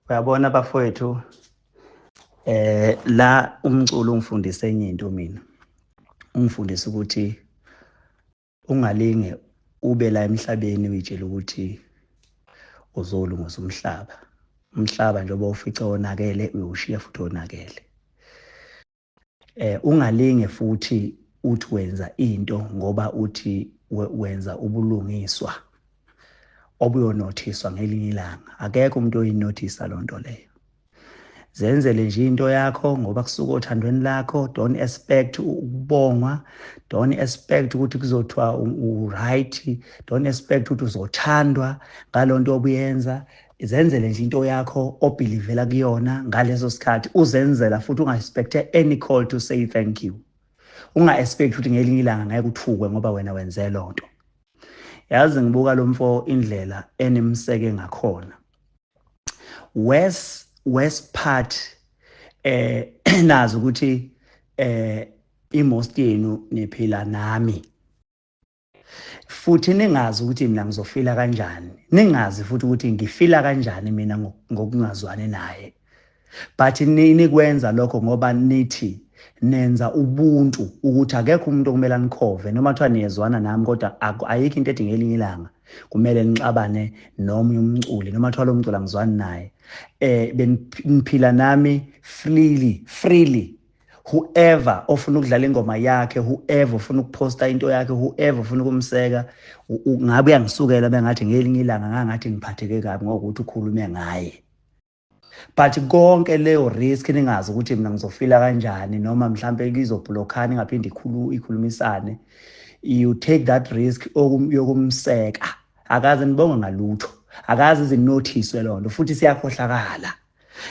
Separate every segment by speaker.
Speaker 1: uyabona bafowethu eh la umculo ungifundise enye into mina ungifundise ukuthi ungalinge ube la emhlabeni uyitshela ukuthi uzolungisa umhlaba umhlaba njengoba ufice wonakele uyowushiya futhi wonakele eh ungalinge futhi uthi wenza into ngoba uthi wenza ubulungiswa obuyonothiswa ngelinye ilanga akekho umuntu oyinothisa loo nto leyo zenzele nje into yakho ngoba kusuka othandweni lakho don't expect ukubongwa don't expect ukuthi kuzothiwa u-right don't expect ukuthi uzothandwa ngalo nto obuyenza izenzele nje into yakho obhilivela kuyona ngaleso sikhathi uzenzela futhi unga-expecte any call to say thank you unga-expect ukuthi ngelinye ilanga ngeke uthukwe ngoba wena wenze loo nto yazi ngibuka lo mfo indlela enimseke ngakhona west west part eh nazi ukuthi eh imost yenu niphila nami futhi ningazi ukuthi mina ngizofila kanjani ningazi futhi ukuthi ngifila kanjani mina ngokungazwani naye but nikwenza lokho ngoba nithi nenza ubuntu ukuthi akekho umuntu okumele anikhove noma kuthiwa niyezwana nami kodwa ayikho into ethi ngelinye ilanga kumele nixabane nomunye umculi noma kuthiwa lo mculi angizwani naye um beniphila nami freely freely whoever ofuna ukudlala ingoma yakhe whoever ofuna ukuposta into yakhe whoever ofuna ukumseka ngabe uyangisukela bengathi ngelinye ilanga ngangathi ngiphatheke kabi ngokuthi ukhulume ngaye but konke leyo risk ningazi ukuthi mina ngizofila kanjani noma mhlampe kizobhlokhani ngaphinde ikhulu ikhulumisane you take that risk yokumseka akaze nibonge ngalutho akaze izinothiswe loo nto futhi siyakhohlakala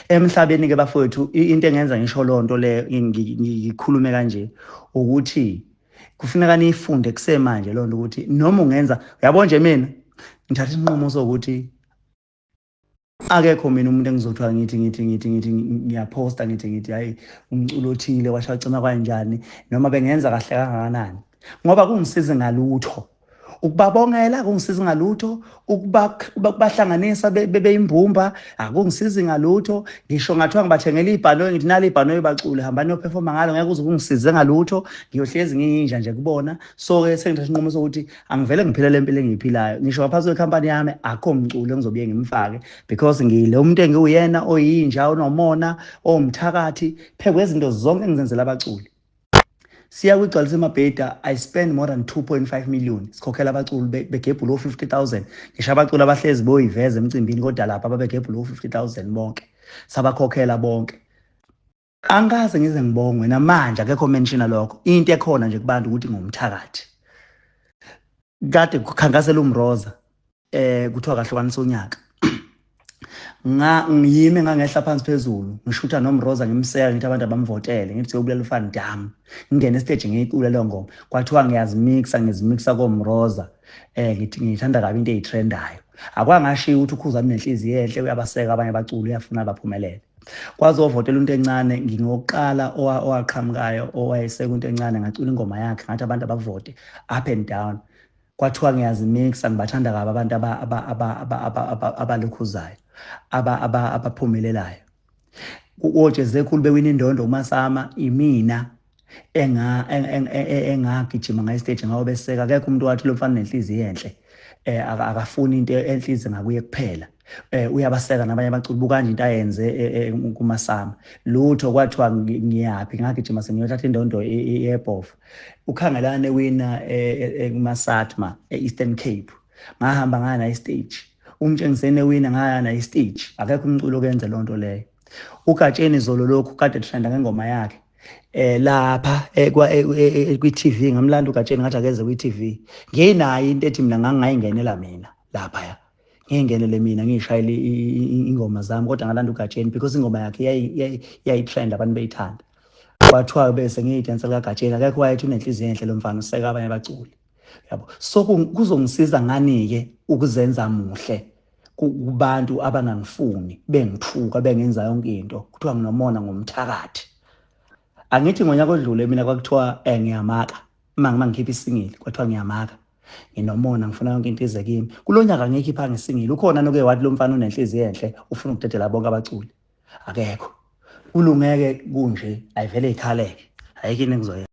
Speaker 1: emhlabeni ke bafowethu into engenza ngisho loo nto le ngikhulume kanje ukuthi kufuneka niyifunde kusemanje loo nto ukuthi noma ungenza uyabo nje mina ngithatha isinqumo sokuthi akekho mina umuntu engizothiwa ngithi ngithi ngithi ngithi ngiyaphosta ngithi ngithi hhayi umculo othile washacima kwanjani noma bengenza kahle kangakanani ngoba kungisizi ngalutho ukubabongela akungisizi ngalutho ukubahlanganisa bebeyimbumba akungisizi ngalutho ngisho ngathiwa ngibathengela ibhanoyi ngithi nali ibhanoyi bacule hamba niyophefoma ngalo ngeke uze kungisize ngalutho ngiyohlezi ngiyinja nje kubona so-ke sengithatha isinqumo sokuthi angivele ngiphile le mpilo engiyiphilayo ngisho ngaphansi kwekhampani yami akho mculo engizobuye ngimfake because ngile umuntu engiwuyena oyinja onomona owumthakathi phekwe izinto zonke engizenzela abaculi siya kwigcwalisa emabheda i spend more than 2.5 million sikhokhela abaculi begebhula o-50000 ngisho abaculi abahlezi boyiveza emcimbini kodwa lapha babegebhula o-50000 bonke sabakhokhela bonke angikaze ngize ngibongwe namanje akekho menshina lokho into ekhona nje kubantu ukuthi ngumthakathi kade kukhankasela umroza eh kuthiwa kahlukanisa unyaka nga ngiyime ngangehla phansi phezulu ngishutha nomroza ngimseka ngithi abantu abamvotele ngithi siyobulala ufan dam ngingena estage ngiyicula leyo ngoma kwathiwa ngiyazimixa ngizimixa komroza eh ngithi ngithanda kabi into eyitrendayo akwangashiya ukuthi ukhuzani nenhliziyo enhle uyabaseka abanye abaculi uyafuna baphumelele kwazovotela into encane ngingokuqala owaqhamukayo owayesekunto encane ngacula ingoma yakhe ngathi abantu abavote up and down kwathiwa ngiyazimixa ngibathanda kabi abantu abalukhuzayo abaphumelelayo ojezekhulu bewina indondo umasama imina engagijima ngayistage ngawo beseka akekho umuntu wathi lo mfana nenhliziyo enhle um akafuni into enhliziyo ngakuye kuphela eh uyabaseka nabanye abaculi bukanje into ayenze eh, eh, kumasama lutho kwathiwa ngiyaphi ngagijima sengiyothatha indondo yebhofa ukhangelane wina eh, kumasatma e-eastern cape ngahamba ngaya naye stage umtshengisene wina ngaya naye stage akekho umculo okenze loo nto leyo ugatsheni zolo lokhu kade trenda ngengoma yakhe eh lapha eh, eh, eh, kwi-TV ngamlanda ugatsheni ngathi akeze kwi-TV nginayo into ethi mina ngangingayingenela mina lapha ya ngingenele mina ngishayele ingoma zami kodwa ngalanda uGatsheni because ingoma yakhe yayitrend abantu beyithanda kwathiwa bese ngiyidansa likaGatsheni akekho wayethi unenhliziyo enhle lo mfana useka abanye abaculi yabo so kuzongisiza ngani-ke ukuzenza muhle kubantu abangangifuni bengithuka bengenza yonke into kuthiwa nginomona ngomthakathi angithi ngonyaka odlule mina kwakuthiwa um ngiyamaka uma ngikhipha isingili kwathiwa ngiyamaka nginomona ngifuna yonke into ize kimi kulo nyaka ngeke iphange singile ukhona noke wathi lo mfana unenhliziyo enhle ufuna ukudedela bonke abaculi akekho kulungeke kunje ayivele ikhaleke ayikho into engizoyenza